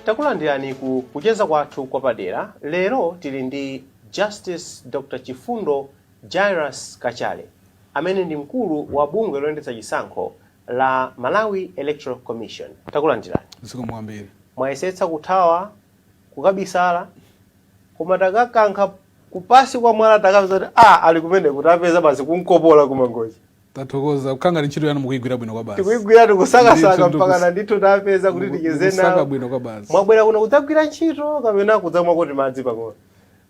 takulandirani ku kucheza kwathu kwapadera lero tili ndi justice dr chifundo jairus kachale amene ndi mkulu wa bungwe loyendetsa chisankho la malawi electoral commission takulandirani zikomo kwambiri mwayesetsa kuthawa kukabisala koma takakankha kupansi kwa mwala takapeza kuti a ali kumene kuti tapeza basi kunkopola kumangochi Tathokoza zikukhala ngati ntchito yanu mukuigwira bwino kwabasi. Tikuigwira tikusakasaka mpakana ndithu tapeza kuti ticheze nawo. Kusaka bwino kwabasi. Mwabwera kuno kudzagwira ntchito kapena kudzamwa kuti madzi pang'ono?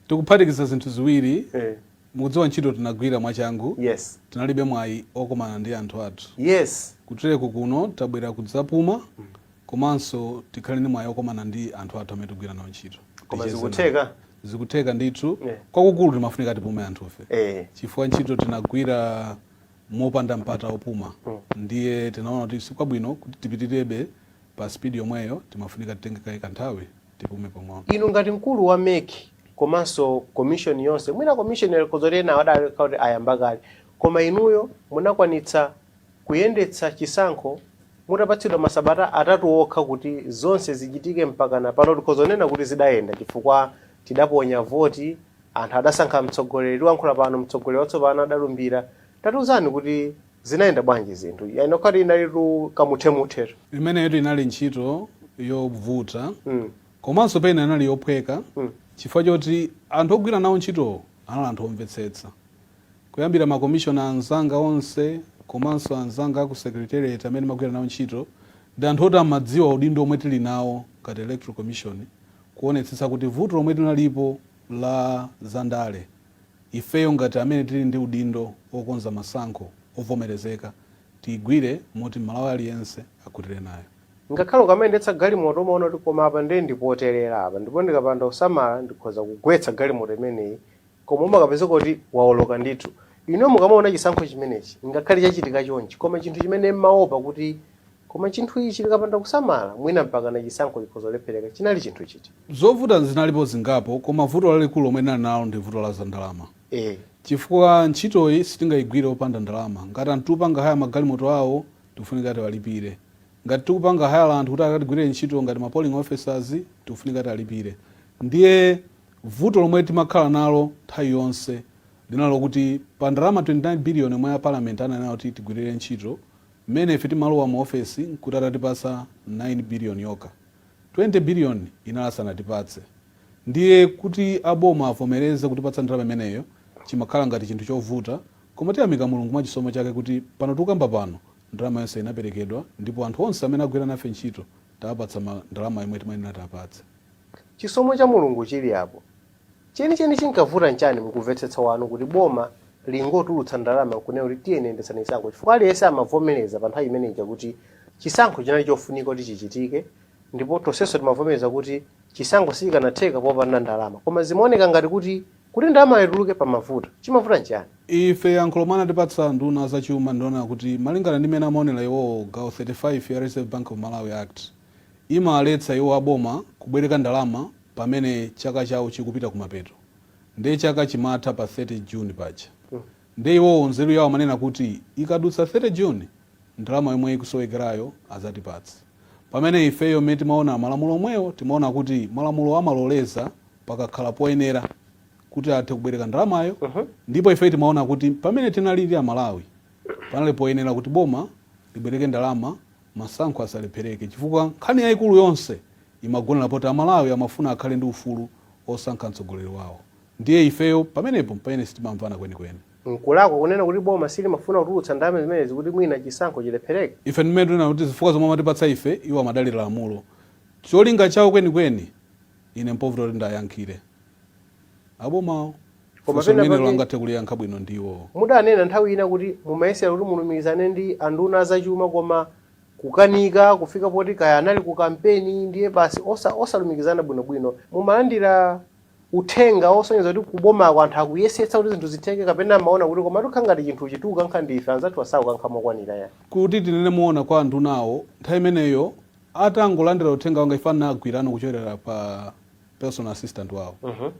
Tikuphatikiza zinthu ziwiri. Eh. Mukudziwa ntchito tinagwira mwachangu. Yes. Tinalibe mwayi okumana ndi anthu athu. Yes. Kutereko kuno tabwera kudzapuma. Mm. komanso tikhale ndi mwayi okomana ndi anthu athu amene tigwira nawo ntchito ticheze nawo. Koma zikutheka? zikutheka ndithu Yeah. kwakukulu timafunika tipume anthufe Eh. chifukwa ntchito tinagwira mopanda mpata opuma ndiye tinaona kuti sikwabwino kuti tipitirebe pa spidi yomweyo timafunika titenge kaye kanthawi tipume pang'ono inu ngati mkulu wa mec komanso commission yonse mwina commission yanokhoza kuti ena adali kuti ayamba kale koma inuyo munakwanitsa kuyendetsa chisankho mutapatsidwa masabata atatu okha kuti zonse zichitike mpakana pano tikhoza kunena kuti zidayenda chifukwa tidaponya voti, anthu adasankha mtsogoleri, tikulankhula pano mtsogoleri watsopano adalumbira, tatiuzani kuti zinayenda bwanji zinthu, iyenera kukhala kuti inalitu kamuthemuthe. Imeneyotu inali ntchito yovuta komanso pena inali yophweka chifukwa choti anthu ogwira nawo ntchitowo anali anthu omvetsetsa. Kuyambira ma commissioner anzanga onse komanso anzanga aku secretariat amene ndimagwira nawo ntchito ndi anthu oti amadziwa udindo omwe tili nawo ngati electoral commission kuonetsetsa kuti vuto lomwe linalipo la za ndale ifeyo ngati amene tili ndi udindo okonza masankho ovomerezeka tiigwire moti m'malawi aliyense akhutire nayo. Ngakhale ukamayendetsa galimoto umaona kuti koma apa ndiye ndi poterera apa ndipo ndikapanda kusamala ndikhoza kugwetsa galimoto imeneyi koma umakapezeka kuti waoloka ndithu inuyo mukamaona chisankho chimenechi ngakhale chachitika chonchi koma chinthu chimene mmaopa kuti koma chinthu ichi tikapanda kusamala mwina mpakana chisankho chikhoza kulephereka chinali chinthu chiti Zovuta zinalipo zingapo koma vuto lalikulu lomwe tinali nalo ndi vuto la zandalama eh chifukwa ntchitoyi sitingaigwire opanda ndalama. Ngati anthu tikupanga haya magalimoto awo tikufunika tiwalipire. Ngati tikupanga haya anthu kuti akatigwirire ntchito ngati ma polling officers tikufunika tiwalipire. Ndiye Vuto lomwe timakhala nalo nthawi yonse linali lokuti pa ndalama 29 billion yomwe a parliament ananena kuti tigwilire ntchito, mmene ife timalowa mu office nkuti atatipatsa 9 billion yokha. 20 billion inali asanatipatse. Ndiye kuti a boma avomereze kutipatsa ndalama imeneyo chimakhala ngati chinthu chovuta koma tiyamika Mulungu mwa chisomo chake kuti pano tikukamba pano ndalama yonse inaperekedwa ndipo anthu onse amene agwira nafe ntchito tawapatsa ndalama yomwe timayenera tiwapatse. Chisomo cha Mulungu chili apo. Chenicheni chinkavuta nchani mukumvetsetsa kwanu kuti boma lingotulutsa ndalama nkunena kuti tiyeni yendetsani chisankho chifukwa aliyense amavomeleza pa nthawi imene ija kuti chisankho chinali chofunika kuti chichitike ndipo tonsenso timavomeleza kuti chisankho sichikanatheka popanda ndalama koma zimaoneka ngati kuti kuti ndalamayo ituluke pamavuta. Chimavuta nchiyani? Ife yankho lomwe anatipatsa anduna a zachuma ndi lonena kuti malingana ndi mmene amaonela iwowo gawo 35 ya Reserve Bank of Malawi Act, imawaletsa iwo aboma kubwereka ndalama pamene chaka chawo chikupita kumapeto nde chaka chimatha pa 30 June paja nde iwowo nzeru yawo amanena kuti ikadutsa 30 June ndalama yomwe ikusowekerayo azatipatsa pamene ifeyo mmene timaona malamulo omwewo timaona kuti malamulo amaloleza pakakhala poyenera kuti athe kubwereka ndalamayo ndipo ifeyo timaona kuti pamene tinalili amalawi panali poyenera kuti boma libwereke ndalama Masankho asalephereke chifukwa nkhani yaikulu yonse imagonera poti Amalawi amafuna akhale ndi ufulu osankha mtsogoleri wawo ndiye ifeyo pamenepo mpamene sitimamvana kwenikweni. Nkulakwa kunena kuti boma silimafuna kutulutsa ndalama zimenezi kuti mwina chisankho chilephereke. Ife ndi mmene tikunena kuti zifukwa zomwe amatipatsa ife iwo amadalira lamulo. Cholinga chawo kwenikweni ine mpovuta kuti ndayankhire. abomawo Koma funso limenelo pena pake angathe kuliyankha bwino ndi iwowo mudanena nthawi ina kuti mumayesera kuti mulumikizane ndi anduna azachuma koma kukanika kufika poti kaya anali ku kampeni ndiye basi osa, osalumikizana bwinobwino mumalandira uthenga osonyeza kuti kubomako anthu akuyesetsa kuti zinthu zitheke kapena mumaona kuti koma tikhala ngati chinthu chikukankha ndi ife anzathu asakukankha mokwanira ya kuti tinene moona kwa andunawo nthawi imeneyo atangolandira uthenga wanga ife anagwirana kuchokera pa personal assistant wawo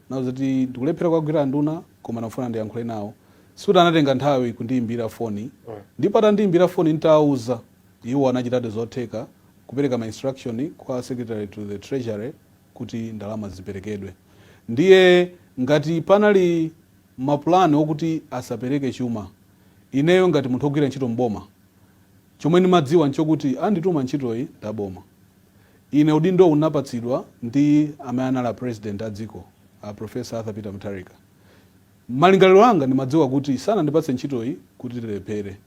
nawo zoti ndikulephera kuwagwira anduna koma ndikufuna ndiyankhule nawo sikuti anatenga nthawi kundiyimbira foni ndipo atandiyimbira foni nditawuza iwo anachitadi zotheka kupereka ma instruction kwa secretary to the treasury kuti ndalama ziperekedwe ndiye ngati panali mapulani okuti asapereke chuma ineyo ngati munthu ogwira ntchito mboma chomwe ndimadziwa nchokuti andituma ntchitoyi ndaboma Ine udindo ndinapatsidwa ndi amene anali a President a dziko, a Professor Arthur Peter Mutharika. Malingaliro anga ndimadziwa kuti sanandipatse ntchitoyi kuti tilephere.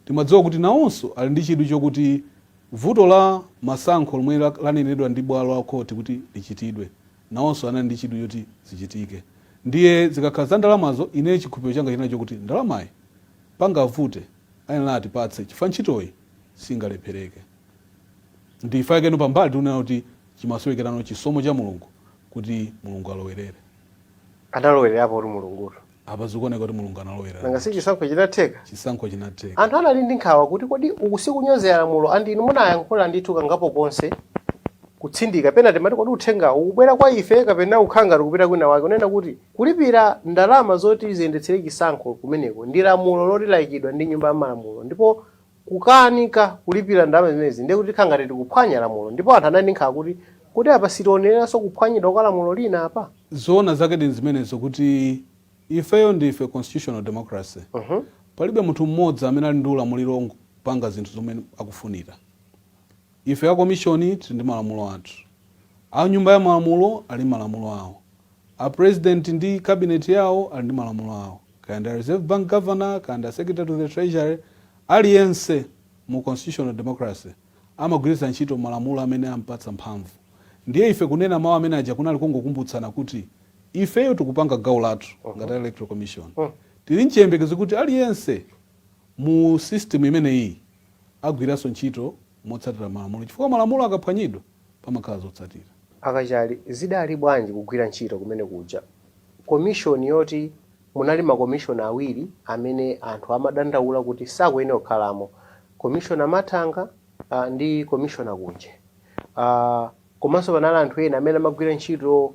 Ndimadziwa kuti nawonso ali ndi chidwi chokuti vuto la masankho lomwe lanenedwa ndi bwalo la khoti kuti lichitidwe, nawonso anali ndi chidwi choti zichitike. Ndiye zikakhala za ndalamazo, ineyo chikhulupiriro changa chinali chokuti ndalamayi pangavute ayenera atipatse chifukwa ntchitoyi singalephereke. Ndichifukwa chake pambali tikunena kuti chimasowekerano chisomo cha Mulungu kuti Mulungu alowerere. Analowererapotu Mulungutu. Apa zikuoneka kuti Mulungu analowererapo. Nanga si chisankho chinatheka? Chisankho chinatheka. Anthu anali ndi nkhawa kuti kodi uku sikunyozera lamulo and inu munayankhula ndithu kangapo konse kutsindika pena timati kodi uthengawu ukubwera kwa ife kapena kukhala ngati ukupita kwina kwake kunena kuti kulipira ndalama zoti ziyendetsere chisankho kumeneko ndi lamulo loti laikidwa ndi Nyumba ya Malamulo ndipo kukanika kulipira ndalama zimenezi ndiye kuti tikhala ngati tikuphwanya lamulo ndipo anthu anali ndi nkhawa kuti, Kodi apa sitionereranso kuphwanyidwa kwa lamulo lina apa? Zoona zake ndi zimenezo kuti ifeyo ndife constitutional democracy. Palibe munthu mmodzi amene ali ndi ulamuliro ongopanga zinthu zomwe akufunira. Ife a komishoni tili ndi malamulo athu. A nyumba ya malamulo ali ndi malamulo awo. A president ndi cabinet yawo ali ndi malamulo awo. kaya ndi a reserve bank governor kaya ndi a secretary to the treasury aliyense mu constitutional democracy amagwiritsa ntchito malamulo amene ampatsa mphamvu ndiye ife kunena mawu amene aja kunali kungokumbutsana kuti ifeyo tikupanga gawo lathu ngati a electoral commission tili nchiyembekezo kuti aliyense mu system imeneyiyi agwiranso ntchito motsatira malamulo chifukwa malamulo akaphwanyidwa pamakhala zotsatira. A Kachali, zidali bwanji kugwira ntchito kumene kuja? Commission yoti munali ma commissioner awiri amene anthu amadandaula kuti sakuyenera kukhalamo, commissioner Mathanga ndi commissioner Kunje. Aaa komanso panali anthu ena amene amagwira ntchito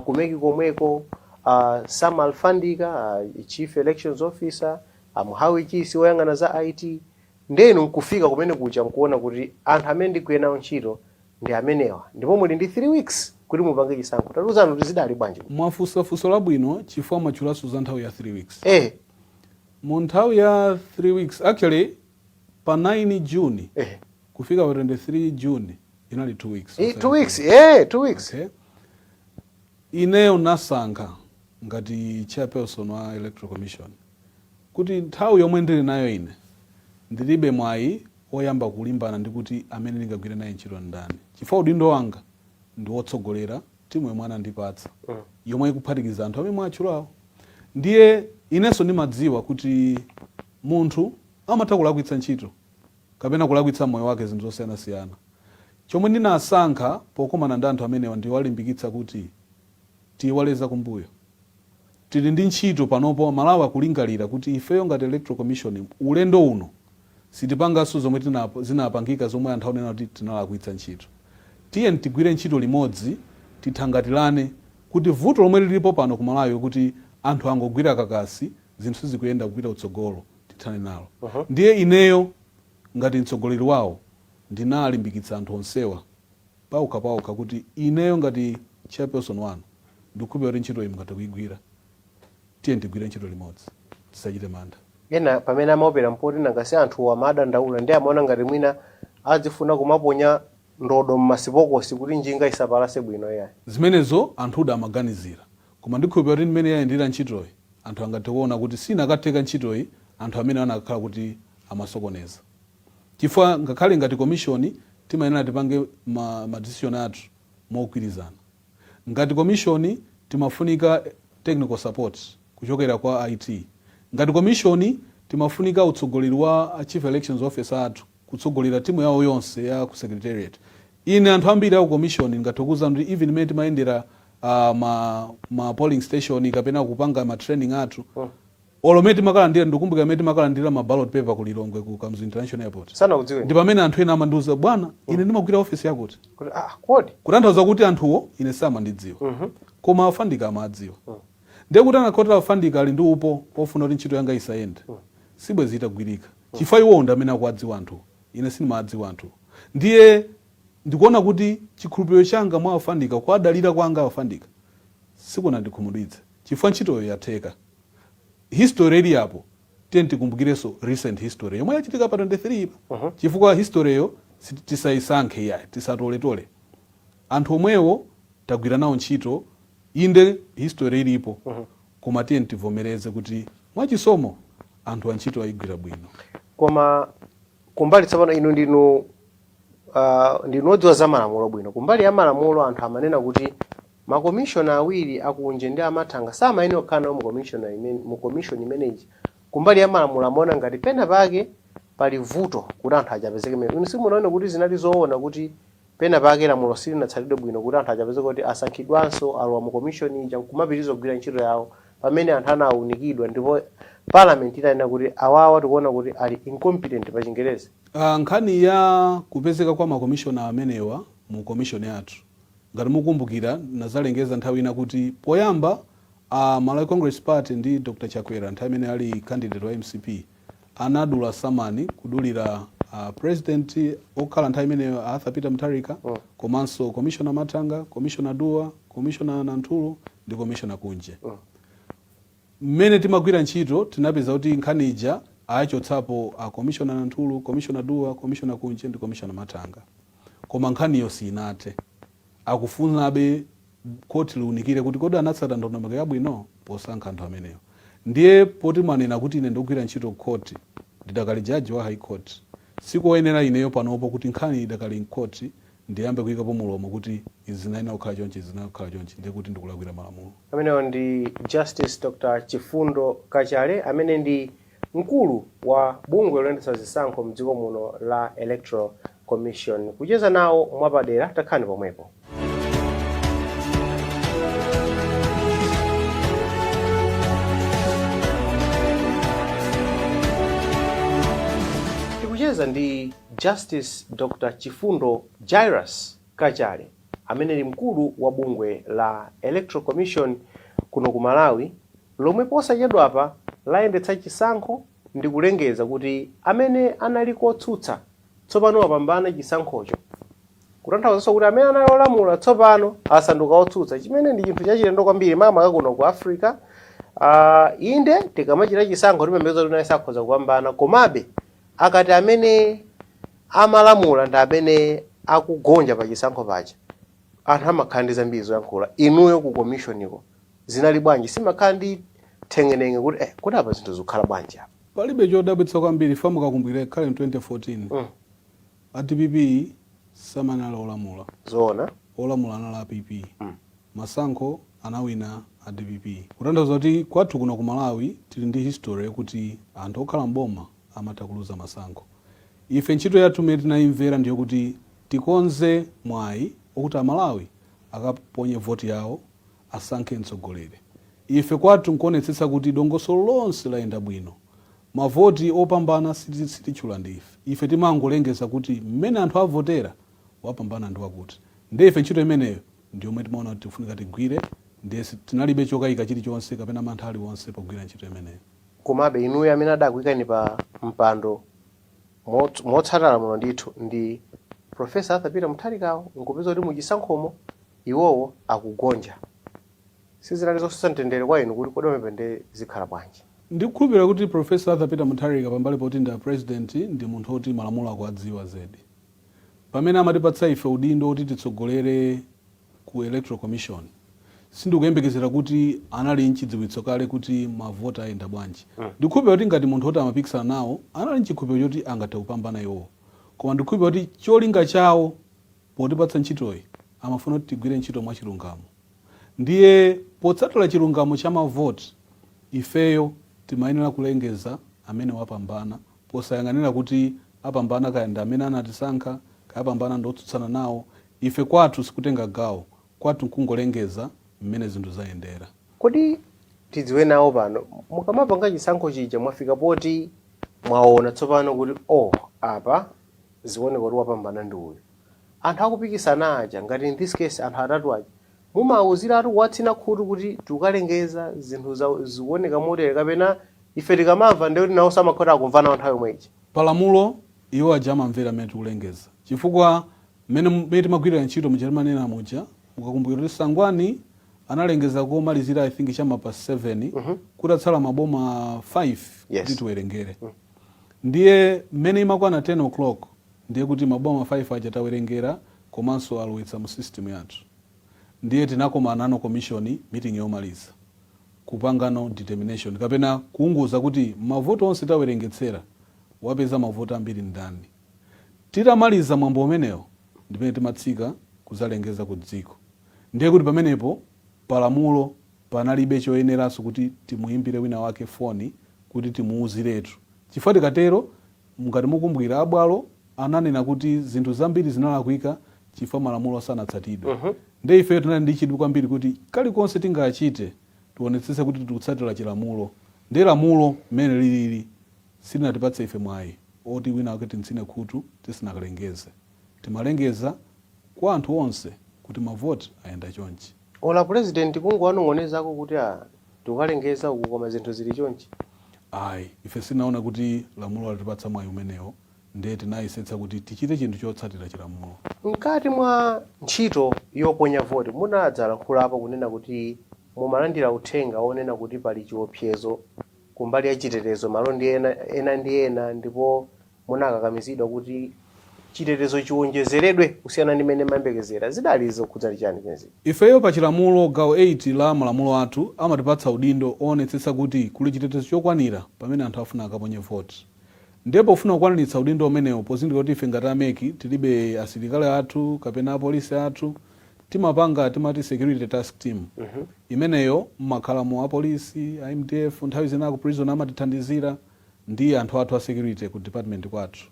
ku mec komweko, a Sam Alfandika, a chief elections officer, a Muhabi Chisi oyang'ana za IT. Ndiye inu nkufika kumene kuja nkuwona kuti anthu amene ndigwire nawo ntchito ndi amenewa ndipo muli ndi 3 weeks kuti mupange chisankho. Tatiuzani kuti zidali bwanji kuja? Mwafunsa funso labwino chifukwa mwatchulanso za nthawi ya 3 weeks. Eh! Mu nthawi ya 3 weeks, actually pa 9 June Eh! kufika pa 23 June inali 2 weeks Eh, osati 3 weeks. 2 weeks. Eh! 2 weeks. Okay. Ineyo nnasankha ngati chairperson wa Electoral Commission. kuti nthawi yomwe ndiri nayo ine, ndiribe mwayi woyamba kulimbana ndi kuti amene ndingagwire naye ntchito ndani chifukwa udindo wanga ndi wotsogolera timu yomwe anandipatsa yomwe ikuphatikiza anthu amene mwawatchulawo. Ndiye inenso ndimadziwa kuti munthu amatha kulakwitsa ntchito kapena kulakwitsa m'moyo wake zinthu zosiyanasiyana. Chomwe ndinasankha pokumana ndi anthu amenewa ndi kuwalimbikitsa kuti. tiyiwale zakumbuyo. Tili ndi ntchito panopo amalawi akuyembekezera kuti ifeyo ngati electoral commission ulendo uno sitipanganso zomwe tinap zinapangika zomwe anthu akunena kuti tinalakwitsa ntchito. Tiyeni tigwire ntchito limodzi tithangatilane kuti vuto lomwe lilipo pano ku malawi kuti anthu angogwira kakasi zinthu sizikuyenda kupita kutsogolo tithane nalo. Ndiye ineyo ngati mtsogoleri wawo ndinalimbikitsa anthu onsewa. paokha paokha kuti ineyo ngati chairperson wanu ndikukhulupilira kuti ntchitoyi mungathe kuigwira. Tiyeni tigwire ntchito limodzi. Tisachite mantha. Ena pamene amaopera n'poti nanga si anthuwo amadandaula ndiye amaona ngati mwina azifuna kumaponya ndodo m'masipokosi kuti njinga isapalase bwino iyayi. Zimenezo anthudi amaganizira. Koma ndikhulupilira kuti mmene yayendera ntchitoyi anthu angathe kuona kuti sinakatheka ntchitoyi anthu amenewa anakakhala kuti amasokoneza. Chifukwa ngakhale ngati komishoni timayenera tipange ma ma decision athu mogwirizana. Ngati komishoni timafunika technical support kuchokera kwa a IT. Ngati komishoni timafunika utsogoleri wa a Chief Elections Officer athu kutsogolera timu yawo yonse ya ku secretariat. Ine anthu ambiri a ku komishoni ndingathe kukuwuzani kuti even mmene timayendera ma ma polling station kapena kupanga ma training athu Olo mmene timakalandira ndikukumbukira mmene timakalandilira ma ballot paper ku Lilongwe ku Kamuzu International Airport Sanakudziweni? ndipamene anthu ena amandiuza bwana ine ndimagwira office yakuti Kuti ah kodi? kutanthauza kuti anthuwo ine sindimawadziwa koma a Fandika amawadziwa ndiye kuti anakakhala kuti a Fandika ali ndi upo ofuna kuti ntchito yanga isayende sibwezi itagwirika chifukwa iwowo ndi amene akuwadziwa anthuwo ine sindimawadziwa anthuwo ndiye ndikuona kuti chikhulupiliro changa mwa a Fandika kuwadalira kwanga a Fandika sikunandikhumudwitse chifukwa ntchitoyo yatheka history ili apo tiyeni tikumbukirenso recent history yomwe yachitika pa 23 pa chifukwa historyyo si- tisayisankhe iyayi tisatoletole anthu omwewo tagwira nawo ntchito inde history ilipo koma tiyeni tivomereze kuti mwachisomo anthuwa ntchito ayigwira bwino koma kumbali tsopano inu ndinu uh, ndinu odziwa za malamulo bwino kumbali ya malamulo anthu amanena kuti Ma commissioner awiri a Kunje ndi a Mathanga samayenera kukhala nawo mu commission imene ija. Kumbali ya malamulo amaona ngati pena pake pali vuto kuti anthu aja apezeke mmenemo. Inu simunaone kuti zinali zoona kuti pena pake lamulo silinatsatidwe bwino kuti anthu aja apezeke kuti asankhidwenso alowe mu commission ija nkumapitiriza kugwira ntchito yawo pamene anthu anaunikidwa ndipo Parliament inanena kuti awawa tikuona kuti ali incompetent pa chingerezi. Nkhani ya kupezeka kwa ma commissioner amenewa mu commission yathu Ngati mukukumbukira, ndinadzalengeza nthawi ina kuti poyamba a Malawi Congress Party ndi Dr Chakwera, nthawi imene ali candidate wa mcp, anadula samani kudulira a President okhala nthawi imeneyo Arthur Peter Mutharika komanso Commissioner Mathanga, Commissioner Duwa, Commissioner Nanthuru ndi Commissioner Kunje. Mmene timagwira ntchito tinapeza kuti nkhani ija awachotsapo a Commissioner Nanthuru, Commissioner Duwa, Commissioner Kunje ndi Commissioner Mathanga koma nkhaniyo sinathe. Akufunabe khoti liunikire kuti kodi anatsata ndondomeko yabwino posankha anthu amenewo. Ndiye poti mwanena kuti ine ndikugwira ntchito kukhoti, ndidakali jaji wa High Court, sikoyenera ineyo panopo kuti nkhani idakali m'khoti ndiyambe kuyikapo mulomo kuti izi zinayenera kukhala chonchi, izi zinayenera kukhala chonchi, ndiye kuti ndikulakwira malamulo. Amenewo ndi Justice Dr Chifundo Kachale amene ndi mkulu wa bungwe loyendetsa zisankho mdziko muno la Electoral Commission. Kucheza nawo mwapadera, takhalani pomwepo. Tikucheza ndi Justice Dr Chifundo Jairus Kachale amene ndi mkulu wa bungwe la Electoral Commission kuno ku Malawi lomwe posachedwapa layendetsa chisankho ndikulengeza kuti amene anali kotsutsa tsopano wapambana chisankhocho kutanthauzanso kuti amene anali olamula tsopano asanduka otsutsa chimene ndi chinthu chachilendo kwambiri makamaka kuno ku Africa, inde tikamachita chisankho timayembekeza kuti aliyense akhoza kupambana komabe Akati amene amalamula ndi amene akugonja pa chisankho paja anthu amakhala ndi zambiri zoyankhula, inuyo ku commission ko zinali bwanji? Simumakhala ndi theng'eneng'e kuti eh kodi apa zinthu zikukhala bwanji apa? Palibe chodabwitsa kwambiri chifukwa mukakumbukira ngakhale in 2014 a dpp samanali olamula, zoona. olamula anali a PP. Masankho anawina a dpp kutanthauza kuti kwathu kuno ku Malawi tili ndi history yokuti anthu okhala m'boma amatha kuluza masankho. Ife ntchito yathu imene tinayimvera ndiyokuti tikonze mwayi wakuti a Malawi akaponye voti yawo asankhe mtsogoleri. Ife kwathu nkuonetsetsa kuti dongosolo lonse layenda bwino. Amavota opambana sititchula ndi ife. Ife timangolengeza kuti mmene anthu avotera wapambana ndi wakuti. Ndiye ife ntchito imeneyo ndi yomwe timaona kuti tikufunika tigwire ndiye tinalibe chokaika chilichonse kapena mantha aliwonse pogwira ntchito imeneyo. Komabe, inuyo amene adakuikani pa mpando motsata lamulo ndithu ndi Professor Arthur Peter Mutharikawo n'kupeza kuti mu chisankhomo iwowo akugonja, sizinali zosowetsa mtendere kwa inu kuti kodi pamenepa ndiye zikhala bwanji? Ndikukhulupirira kuti Professor Arthur Peter Mutharika pambali poti ndi a President ndi munthu woti malamulo akuwadziwa zedi. pamene amatipatsa ife udindo woti titsogolere ku Electoral Commission, sindikuyembekezera kuti anali nchidziwitso kale kuti ma vote ayenda bwanji. Ndikukhulupirira kuti ngati munthu oti amapikisana nawo anali nchikhulupiriro choti angathe kupambana iwowo. Koma ndikukhulupirira kuti cholinga chawo potipatsa ntchitoyi amafuna kuti tigwire ntchito mwachilungamo. Ndiye potsatira chilungamo cha ma vote, ifeyo timayenera kulengeza amene wapambana Posayang'anira kuti apambana kaya ndi amene anatisankha, kaya apambana ndi otsutsana nawo, ife kwathu sikutenga gawo, kwathu nkungolengeza mmene zinthu zayendera. Kodi tidziwe nawo pano, mukamapanga chisankho chija mwafika poti mwaona tsopano kuti oh apa zikuoneka kuti wapambana ndi uyu, Anthu akupikisana aja, ngati in this case anthu atatu aja, mumawauziratu kuwatsina khutu kuti tikukalengeza zinthu zikuoneka motere kapena Ife tikamamva ndiye kuti naonso amakhala akumva nao nthawi yomwe ija. Pa lamulo, iwo aja amamvera m'mene tikulengeza. Chifukwa m'mene timagwirira ntchito muja timanena muja, mukakumbukira kuti Sangwani analengeza komalizira I think cha ma past 7 kutatsala maboma 5 kuti Yes. tiwerengere. Ndiye m'mene imakwana 10:00 ndiye kuti maboma 5 aja tawerengera komanso alowetsa mu system yathu. Ndiye tinakomanano commission meeting yomaliza. kupangano determination kapena kuunguza kuti mavoti onse tawerengetsera wapeza mavoti ambiri ndani. Titamaliza mwambo umenewo ndipamene timatsika kuzalengeza ku dziko ndiye kuti pamenepo palamulo panalibe choyeneranso kuti timuyimbire wina wake foni kuti timuwuziretu chifukwa tikatero mngati mukumbukira a bwalo ananena kuti zinthu zambiri zinalakwika chifukwa malamulo sanatsatidwe. Ndiye ifeyo tinali ndi chidwi kwambiri kuti kalikonse tingachite tionetsetse kuti tikutsatira chilamulo. Ndiye lamulo mmene lilili silinatipatse ife mwayi oti winawake tim'tsine khutu tisanakalengeze. Timalengeza kwa anthu onse kuti mavoti ayenda chonchi. Olo apulezidenti kungowanong'onezako kuti, ah, tikukalengeza uku koma zinthu zili chonchi? Ayi, ife sitinaone kuti lamulo latipatsa mwayi umenewo. Ndiye tinayesetsa kuti tichite chinthu chotsatira chilamulo. Mkati mwa ntchito yoponya voti, munadzalankhulapo kunena kuti mumalandira uthenga wonena kuti pali chiwopsezo kumbali ya chitetezo malo ena ndi ena ndipo munakakamizidwa kuti chitetezo chiwonjezeredwe kusiyana ndi mmene mumayembekezera. Zidali zokhudza chiyani zimenezi? Ifeyo pa chilamulo gawo 8 la malamulo athu amatipatsa udindo owonetsetsa kuti kuli chitetezo chokwanira pamene anthu afuna akaponye voti. Ndiye pofuna kukwaniritsa udindo umenewo, pozindikira kuti ife ngati a MEC tilibe asilikali athu kapena apolisi athu, timapanga timati security task team. Imeneyo mumakhalamo apolisi, a MDF, nthawi zina a ku prison amatithandizira ndi anthu athu a security ku department kwathu.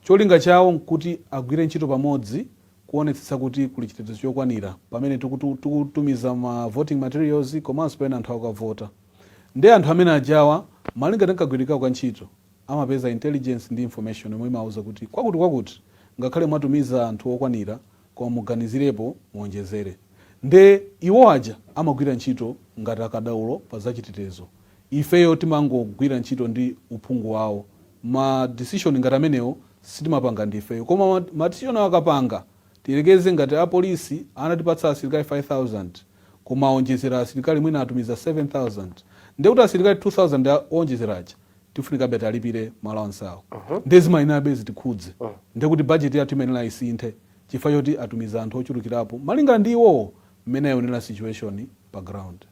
Cholinga chawo kuti agwire ntchito pamodzi kuonetsetsa kuti kuli chitetezo chokwanira pamene tikutumiza ma voting materials komanso pamene anthu akavota. Nde anthu amene ajawa malinga ndi kagwiridwe kawo ka ntchito amapeza intelligence ndi information yomwe imawauza kuti kwakuti kwakuti ngakhale mwatumiza anthu okwanira koma muganizirepo muonjezere. Nde iwo aja amagwira ntchito ngati akadaulo pa za chitetezo. Ifeyo timangogwira ntchito ndi uphungu wawo. Ma decision ngati amenewo sitimapanga ndi ifeyo. Koma ma decisionwo akapanga, tiyerekeze ngati a polisi anatipatsa asilikali 5000, koma awonjezera asilikali mwina atumiza 7000 ndiye kuti asilikali 2000 owonjezera aja tifunikabe tialipire ma allowance awo ndiye zimayenerabe zitikhudze ndiye kuti budget yathu imayenera isinthe chifukwa choti atumiza anthu ochulukirapo malinga ndi iwowo mmene ayionera situation pa ground.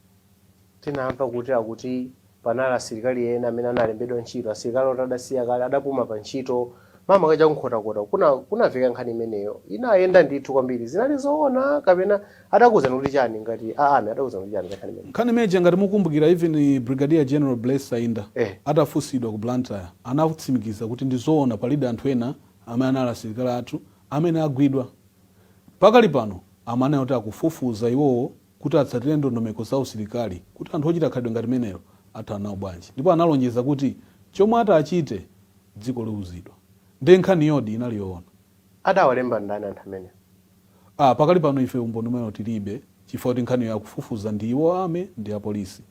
Tinamva kuti akuti panali asilikali ena amene analembedwa ntchito, asilikali oti adasiya kale, adapuma pantchito, makamaka cha ku Nkhotakota uku. Kuna, kunamveka nkhani imeneyo. Inayenda ndithu kwambiri. Zinali zoona kapena adakuuzani kuti chani ngati a Army adakuuzani kuti chani za nkhani imeneyi? Nkhani imeneyi ija ngati mukumbukira even Brigadier General Blaise Saenda Eh. atafunsidwa ku Blantyre anatsimikiza kuti ndi zoona palidi anthu ena amene anali asilikali athu amene agwidwa. Pakali pano amanena kuti akufufuza iwowo kuti atsatire ndondomeko za usilikali kuti anthu ochita khalidwe ngati limenelo athana nawo bwanji ndipo analonjeza kuti chomwe ati achite dziko liuzidwa. Nde nkhaniyodi inali yoona? Adawalemba ndani anthu amenewo? a. Pakali pano ife umboni umenewo tilibe chifukwa kuti nkhaniyo akufufuza ndi iwo Army ndi a Police.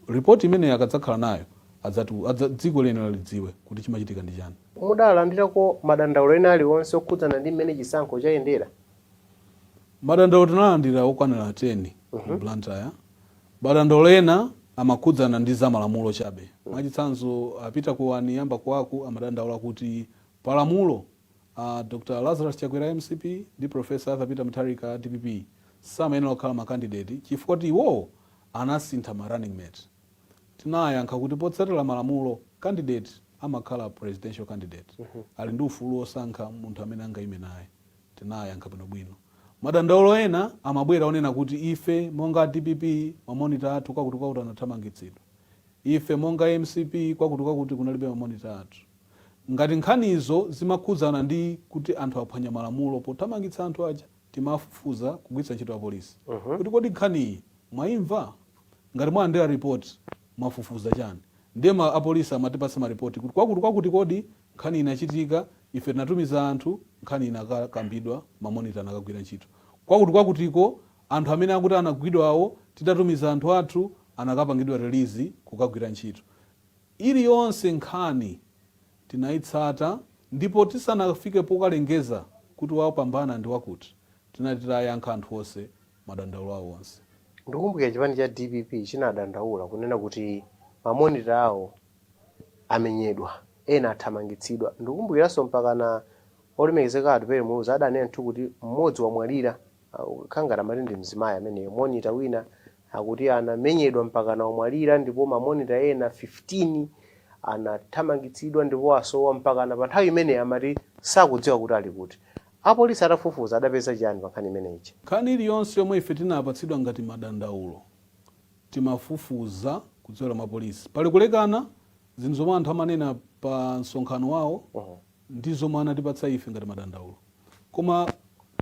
Report imeneyo akadzakhala nayo adzatiwu, adza, dziko liyenera lidziwe kuti chimachitika ndi chani. Mudalandirako madandaulo ena aliwonse okhudzana ndi mmene chisankho chayendera? Madandaulo tinalandira okwanira 10 ku Blantyre. Madandaulo ena amakhudzana ndi za malamulo chabe. Mwachitsanzo, a Peter Kuwani a Mbakuwaku amadandaula kuti pa lamulo, a Dr Lazarus Chakwera a mcp ndi Prof Arthur Peter Mutharika a dpp samayenera kukhala ma kandideti chifukwa kuti iwowo anasintha ma running mate. Tinawayankha kuti potsatira malamulo, kandideti amakhala presidential candidate, ali ndi ufulu wosankha munthu amene angaime naye. Tinayankha bwinobwino. Madandaulo ena amabwera onena kuti ife monga a dpp ma monitor athu kwakutikwakuti anathamangitsidwa. Ife monga a mcp kwakutikwakuti kunalibe ma monitor athu. Ngati nkhanizo zimakhudzana ndi kuti anthu aphwanya malamulo pothamangitsa anthu aja timafufuza kugwiritsa ntchito apolisi kuti kodi nkhaniyi mwaimva? Ngati mwalandira report mwafufuza chani? Ndiye apolisi amatipatsa ma report kuti kwakutikwakuti kodi Nkhani inachitika, ife tinatumiza anthu, nkhani inakakambidwa, mamonita anakagwira ntchito kwakuti-kwakutiko, anthu amene akuti anagwidwawo, titatumiza anthu athu, anakapangidwa release kukagwira ntchito. Iliyonse nkhani tinaitsata ndipo tisanafike pokalengeza kuti wapambana ndi wakuti, tinati tayankha anthu onse madandaulo awo onse. Ndikumbukira chipani cha dpp chinadandaula kunena kuti ma monitor awo amenyedwa, ena athamangitsidwa. Ndikumbukiranso mpakana olemekezeka Atupele Muluzi adanena kuti mmodzi wamwalira, kukhala ngati amati ndi mzimayi amene, monitor wina akuti anamenyedwa mpakana wamwalira ndipo ma monitor ena 15 anathamangitsidwa ndipo asowa mpakana panthawi imene amati sakudziwa kuti ali kuti. Apolisi atafufuza adapeza chiyani pa nkhani imene ija? Nkhani iliyonse yomwe ife tinapatsidwa ngati madandaulo timafufuza kudzera mwa polisi. Pali kulekana zinthu zomwe anthu amanena pa msonkhano wawo ndi zomwe anatipatsa ife ngati madandaulo. Koma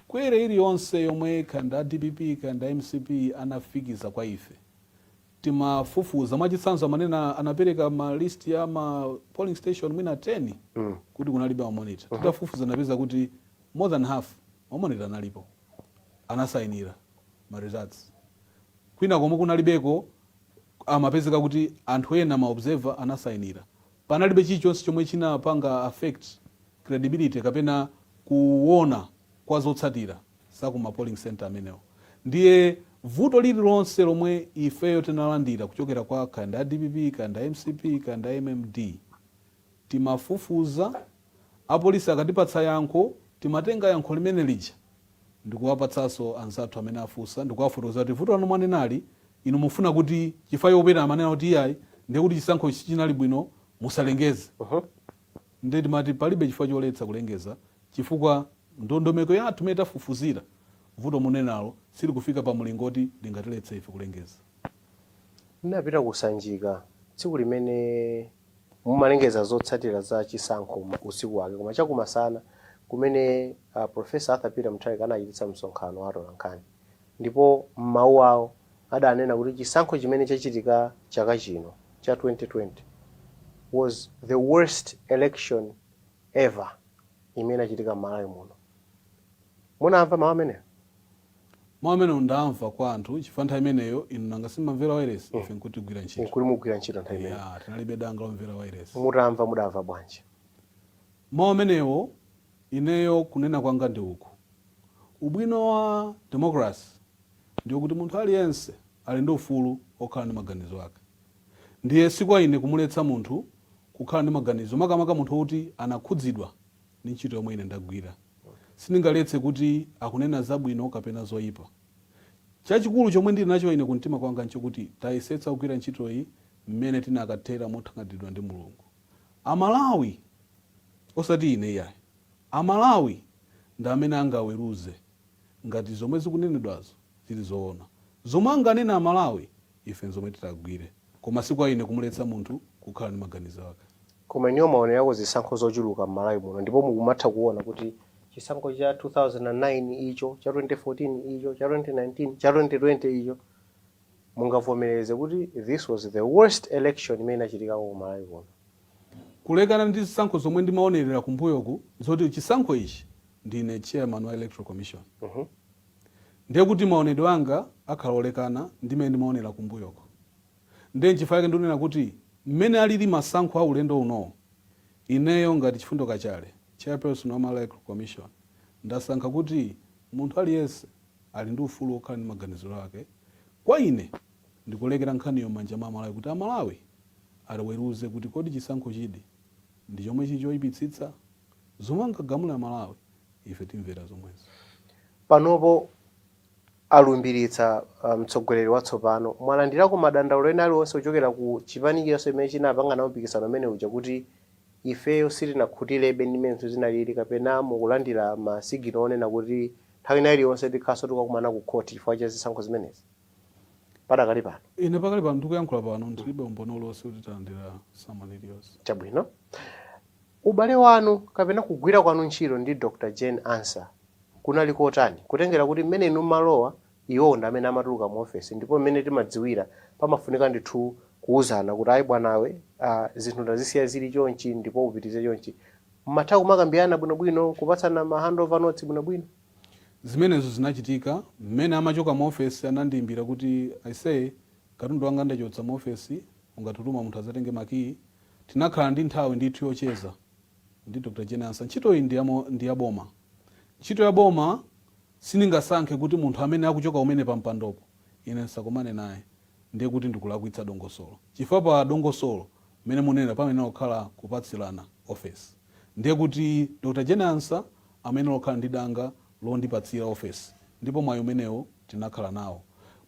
query iliyonse yomwe kaya ndi a dpp kaya ndi a mcp anafikiza kwa ife timafufuza. Mwachitsanzo amanena anapereka ma list ya ma polling station mwina 10 kuti kunalibe ma monitor. Titafufuza tinapeza kuti more than half ma monitor analipo. Anasayinira ma results. Kwina komwe kunalibeko amapezeka kuti anthu ena ma observer anasayinira. Panalibe chilichonse chomwe chinapanga affect credibility kapena kuona kwa zotsatira. za ku ma polling centre amenewo. Ndiye vuto lililonse lomwe ifeyo tinalandira kuchokera kwa kaya ndi a dpp kaya ndi a mcp kaya ndi a mmd timafufuza, apolisi akatipatsa yankho timatenga yankho limene lija ndikuwapatsanso anzathu amene afunsa ndikuwafotokoza kuti vuto lanu mwanenali inu mufuna kuti chifukwa pena amanena kuti iyayi ndiye kuti chisankho sichinali bwino musalengeze. Nde timati palibe chifukwa choletsa kulengeza chifukwa ndondomeko yathu imene tafufuzira, vuto munenalo silikufika pa mlingo oti lingatiletse ife kulengeza. Ndinapita ku Sanjika tsiku limene mumalengeza zotsatira za chisankho usiku wake koma chakumadzulo kumene a Prof. Arthur Peter Mutharika anachititsa msonkhano wa atolankhani ndipo m'mawu awo, adanena kuti chisankho chimene chachitika chaka chino cha 2020 was the worst election ever imene inachitika m'Malawi muno. Munamva mawu amenewo? Mau amenewo ndamva kwa anthu chifukwa nthawi imeneyo inu nanga sitimamvera wailesi? Ife nkuti tikugwira ntchito. Nkuti mukugwira ntchito nthawi imeneyo? Eya, tinalibe danga lomvera wailesi. Mutamva mudamva bwanji? Mau amenewo ineyo kunena kwanga ndi uku, ubwino wa democracy. ndiyo kuti munthu aliyense ali ndi ufulu wokhala ndi maganizo ake. Ndiye si kwa ine kumuletsa munthu kukhala ndi maganizo, makamaka munthu woti anakhudzidwa ndi ntchito yomwe ine ndagwira. Sindingaletse kuti akunena zabwino kapena zoyipa. Chachikulu chomwe ndiri nacho ine kumtima kwanga n'chokuti tayesetsa kugwira ntchitoyi mmene tinakathera mothangatiridwa ndi Mulungu. Amalawi! Osati ine iyayi. Amalawi ndi amene angaweruze. ngati zomwe zikunenedwazo zili zoona. Zomwe anganene Amalawi ife nzomwe titagwire koma si kwa ine kumuletsa munthu kukhala ndi maganizo ake. Koma inuyo mwaonerako zisankho zochuluka m'Malawi muno ndipo mukumatha kuona kuti chisankho cha 2009 icho, cha 2014 icho, cha 2019, cha 2020 icho, mungavomereze kuti this was the worst election imene inachitikako ku Malawi kuno. Kulekana ndi zisankho zomwe ndimaonerera kumbuyoku nzoti chisankho ichi ndine chairman wa electoral commission ndiye kuti maonedwe anga akhala olekana ndi mmene ndimaonera kumbuyoko ndiye nchifukwa chake ndikunena kuti mmene alili masankho a ulendo unowo ineyo ngati Chifundo Kachale, chairperson wa Malawi Electoral Commission, ndasankha kuti munthu aliyense ali ndi ufulu wokhala ndi maganizo ake. Kwa ine ndikulekera nkhaniyo mmanja mwa Amalawi kuti Amalawi aweruze kuti kodi chisankho ichi ndi chomwe chili choipitsitsa? Zomwe angagamule Amalawi ife timvera zomwezo. Panopo alumbiritsa mtsogoleri watsopano. Mwalandirako madandaulo ena aliwonse kuchokera ku chipani chilichonse chimene chinapanga nawo mpikisano umene uja kuti ifeyo sitinakhutilebe ndi mmene zinthu zinalili kapena mukulandira ma siginal onena kuti nthawi ina iliyonse tikhalanso tikukumana ku court chifukwa cha zisankho zimenezi padakali pano? Ine pakali pano ndikuyankhula pano ndilibe umboni uliwonse kuti talandira summon iliyonse. Chabwino. Ubale wanu kapena kugwira kwanu ntchito ndi Dr Jane Ansah kunali kotani? Kutengera kuti mmene inu mmalowa iwowo ndi amene amatuluka mu ofesi ndipo mmene timadziwira pamafunika ndithu kuuzana kuti ayi bwanawe aah zinthu ndazisiya zili chonchi ndipo upitirize chonchi. Mmatha kumakambirana bwinobwino kupatsana ma handover notes bwinobwino? Zimenezo zinachitika. Mmene amachoka mu ofesi anandiimbira kuti aisee katundu wanga ndachotsa mu ofesi ungatume munthu adzatenge makiyi? Tinakhala ndi nthawi ndithu yocheza ndi Dr. Jane Ansah. Ntchitoyi ndi ya ndi ya boma. Ntchito ya boma sindingasankhe kuti munthu amene akuchoka umene pa mpandopo ine ndisakomane naye ndiye kuti ndikulakwitsa dongosolo chifukwa pa dongosolo mmene munenera pamayenera kukhala kupatsirana ofesi ndiye kuti Dr. Jane Ansah amayenera kukhala ndi danga londipatsira ofesi ndipo mwayi umenewo tinakhala nawo.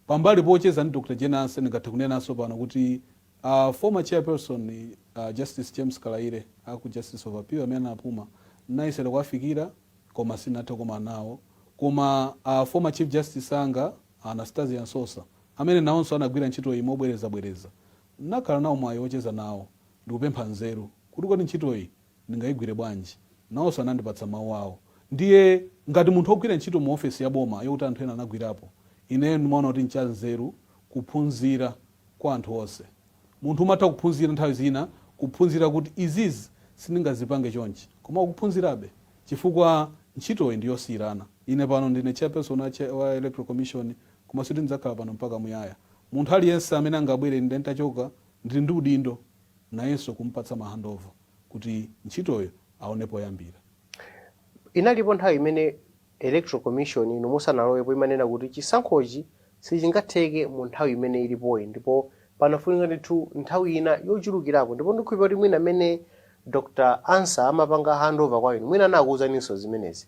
Pambali pocheza ndi Dr. Jane Ansah ndingathe kunenanso pano kuti A former chairperson a Justice James Kalaile a ku Justice of Appeal amene anapuma ndinayesera kuwafikira koma sindinathe kukomana nawo. Koma a former Chief Justice anga a Anastasia Msosa amene nawonso anagwira ntchitoyi mobwerezabwereza ndinakhala nawo mwayi wocheza nawo ndikupempha nzeru kuti kodi ntchitoyi ndingayigwire bwanji. Nawonso anandipatsa mawu awo. Ndiye ngati munthu wogwira ntchito mu ofesi ya boma yoti anthu ena anagwirapo, ineyo ndimaona kuti n'chanzeru kuphunzira kwa anthu onse. Munthu umatha kuphunzira nthawi zina kuphunzira kuti izizi sindingazipange chonchi koma ukuphunzirabe chifukwa ntchitoyi ndi yosiyirana. Ine pano ndine chairperson wa electoral commission koma sikuti ndidzakhala pano mpaka muyaya. Munthu aliyense amene angabwere ine nditachoka ndili ndi udindo nayenso kumupatsa ma handover kuti ntchitoyo aone poyambira. Inalipo nthawi imene Electoral Commission inu musanalowepo imanena kuti chisankhochi sichingatheke mu nthawi imene ilipoyi ndipo panafunika ndithu nthawi ina yochulukirapo ndipo ndikukhulupirira kuti mwina mmene Dr Ansah amapanga handover kwa inu mwina anakuuzaninso zimenezi.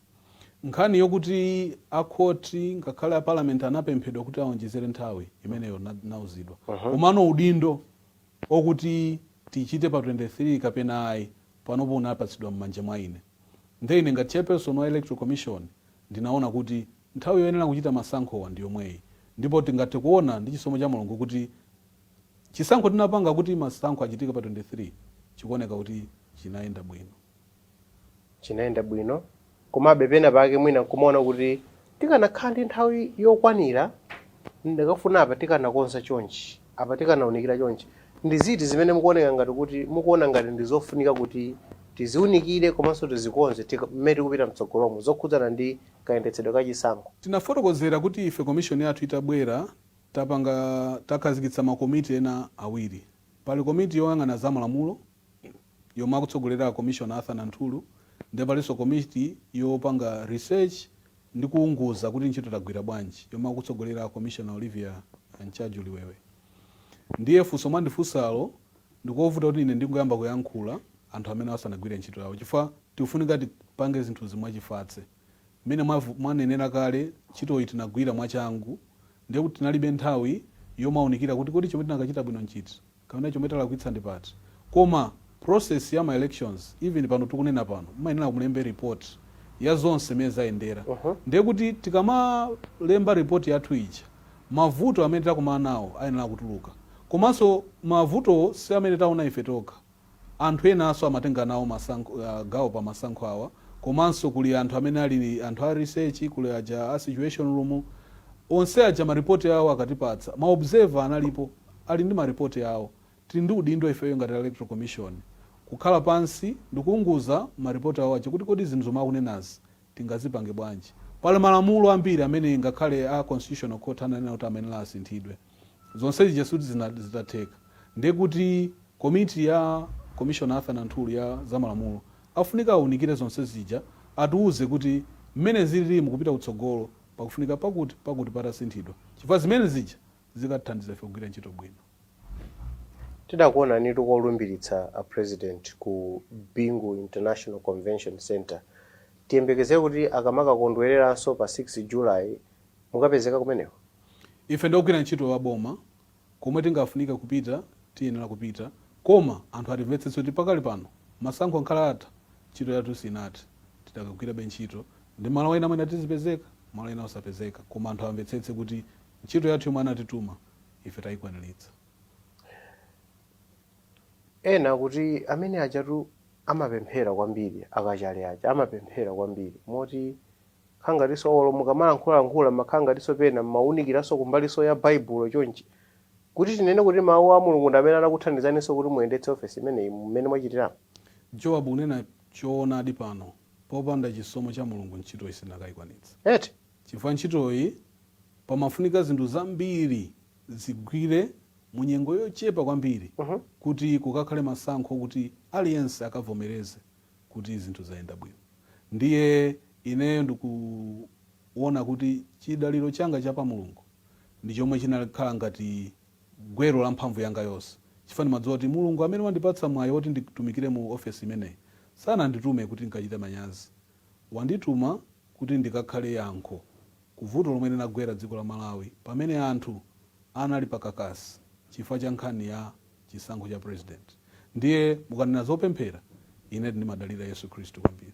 Nkhani yokuti a court ngakhale a parliament anapemphedwa kuti aonjezere nthawi imeneyo ndinauzidwa komano udindo o kuti tichite pa 23 kapena ayi panopo unapatsidwa mmanja mwa ine nde ine ngati chairperson wa electoral commission ndinaona kuti nthawi yoyenera kuchita masankhowa ndi yomweyi ndipo tingathe kuona ndi chisomo cha Mulungu kuti chisankho tinapanga kuti masankho achitike pa 23 chikuoneka kuti chinayenda bwino. chinayenda bwino, komabe pena pake mwina nkumaona kuti tikanakhala ndi nthawi yokwanira ndikanafuna apa tikanakonza chonchi, apa tikanaunikira chonchi. Ndi ziti zimene mukuoneka ngati kuti mukuona ngati ndi zofunika kuti tiziunikire komanso tizikonze mmene tikupita mtsogolomu zokhudzana ndi kayendetsedwe ka chisankho? Tinafotokozera kuti ife Commission yathu itabwera tapanga, takhazikitsa ma komiti ena awiri. Pali komiti yoyang'ana za malamulo yomwe akutsogolera a Commissioner Arthur Nanthuru nde palinso komiti yopanga research ndi kuwunguza kuti ntchito tagwira bwanji yomwe akutsogolera a Commissioner Olivia Ntchaju Liwewe. Ndiye funso mwandifunsalo ndikovuta kuti ine ndingoyamba kuyankhula anthu amenewa asanagwire ntchito yawo chifukwa tikufunika tipange zinthuzi mwachifatse. Mmene mwanenera kale ntchitoyi tinagwira mwachangu ndiye kuti tinalibe nthawi yomaunikira kuti kodi chomwe tinakachita bwino nchiti. kapena chomwe talakwitsa ndi pati koma process ya ma elections even pano tikunena pano mmayenera mulembe report ya zonse mmene zayendera ndiye kuti tikamalemba report yathu ija mavuto amene takumana nawo ayenera kutuluka komanso mavutowo si amene taona ife tokha anthu enanso amatenga nawo gawo pa masankho awa komanso kuli anthu amene ali anthu a research kuli aja a situation room onse aja ma report awo akatipatsa ma observer analipo ali ndi ma report awo. Tili ndi udindo ifeyo ngati a electoral commission kukhala pansi ndikuunguza ma report awo aja kuti kodi zinthu zomwe akunenazi tingazipange bwanji. Pali malamulo ambiri amene ngakhale a constitutional court ananena kuti amayenera asinthidwe. Zonse zija sikuti zinatheka. Ndiye kuti komiti ya commissioner Arthur Nanthuru ya za malamulo afunika aunikire zonse zija atiuze kuti mmene zililimu kupita kutsogolo pakufunika pakuti, pakuti patasinthidwa chifukwa zimene zija zikatithandiza ife kugwira ntchito bwino. Tidakuonanitu kolumbiritsa a President ku Bingu International Convention Centre. Tiyembekezere kuti akamakakondwereranso pa 6 July mukapezeka kumeneko? Ife ndi ogwira ntchito a boma, komwe tingafunike kupita tiyenera kupita, koma anthu atimvetsetse kuti pakali pano masankho angakhale atha, ntchito yathu sinathe, tidakagwirabe ntchito, ndi malo ena mwina tizipezeka, malo ena osapezeka, koma anthu amvetsetse kuti Ntchito yathu yomwe anatituma ife tayikwaniritsa. Ena akuti amene ajatu amapemphera kwambiri a Kachale aja amapemphera kwambiri moti kukhala ngatinso olo mukamalankhulalankhula mmakhala ngatinso pena mmawunikiranso kumbalinso ya Baibulo chonchi kuti tinene kuti mawu a Mulungu ndi amene anakuthandizaninso kuti muyendetse ofesi imeneyi mmene mwachitiramu? Joab unena choonadi pano popanda chisomo cha Mulungu ntchitoyi sitinakayikwanitse. Eti? Chifukwa ntchitoyi pamafunika zinthu zambiri zigwire mu nyengo yochepa kwambiri kuti kukakhale masankho okuti aliyense akavomereze kuti zinthu zayenda bwino ndiye ineyo ndikuwona kuti chidaliro changa cha pa Mulungu ndi chomwe chinakhala ngati gwero la mphamvu yanga yonse chifukwa ndimadziwa kuti Mulungu amene wandipatsa mwayi woti nditumikire mu ofesi imeneyi sananditume kuti ndikachite manyazi wandituma kuti ndikakhale yankho ku vuto lomwe linagwera dziko la Malawi pamene anthu anali pa kakasi chifukwa cha nkhani ya chisankho cha president. Ndiye mukanena zopemphera ine ndimadalira Yesu Khristu kwambiri.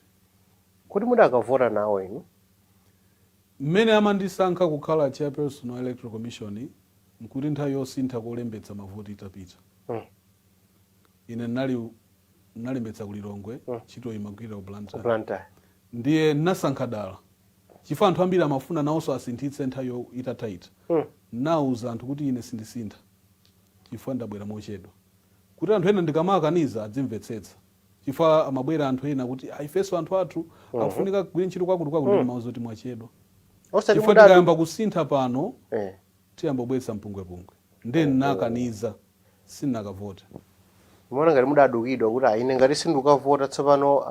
Kodi mudakavota nawo inu? Mmene amandisankha kukhala Chairperson wa Electoral Commission nkuti nthawi yosintha kolembetsa mavoti itapita. Ine ndinali, ndinalembetsa ku Lilongwe, ntchitoyi imagwirira ku Blantyre. Ndiye ndinasankha dala chifukwa anthu ambiri amafuna nawonso asinthitse nthawi yo, itatha ija. Ndinawuza anthu kuti ine sindisintha chifukwa ndabwera mochedwa kuti anthu ena ndikamawakaniza adzimvetsetsa chifukwa amabwera anthu ena kuti ah ifenso anthu athu akufunika akagwire ntchito kwakuti kwakuti ndimawauza kuti mwachedwa Chifukwa tikayamba kusintha pano tiyamba kubweretsa mpungwepungwe. Ndiye ndinakaniza. sindinakavote. Mumaona ngati mudadukidwa kuti ayi ine ngati sindikukavota tsopano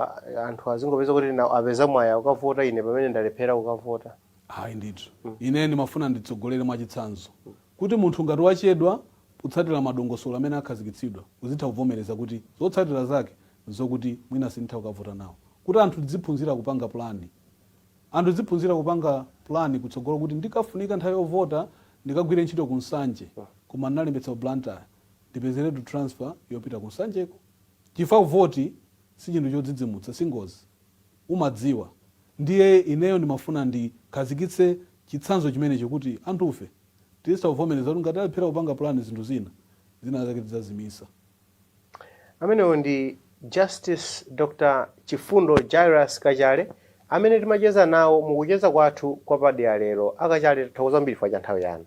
anthu azingopeza kuti apeza mwayi wokavota ine pamene ndalephera kukavota? Ayi ndithu. Ine ndimafuna nditsogolere mwa chitsanzo. Kuti munthu ngati wachedwa kutsatira madongosolo amene akhazikitsidwa uzitha kuvomereza kuti zotsatira zake n'zokuti mwina sinditha kukavota nawo. Kuti anthu tidziphunzira kupanga pulani Anthu tidziphunzira kupanga plan kutsogolo kuti ndikafunika nthawi yovota ndikagwire ntchito ku Nsanje koma ndinalembetsa ku Blantyre ndipezeretu transfer yopita ku Nsanjeko chifukwa vote si chinthu chodzidzimutsa si ngozi umadziwa ndiye ineyo ndimafuna ndikhazikitse chitsanzo chimenecho kuti anthufe tizitha kuvomereza kuti ngati talephera kupanga plan zinthu zina, zina zake tidzazimisa. Amenewo ndi Justice Dr Chifundo Jairus Kachale amene timacheza nawo mukucheza kwathu kwapadera lero. Akachale tathokoza kwambiri chifukwa chanthawi yanu.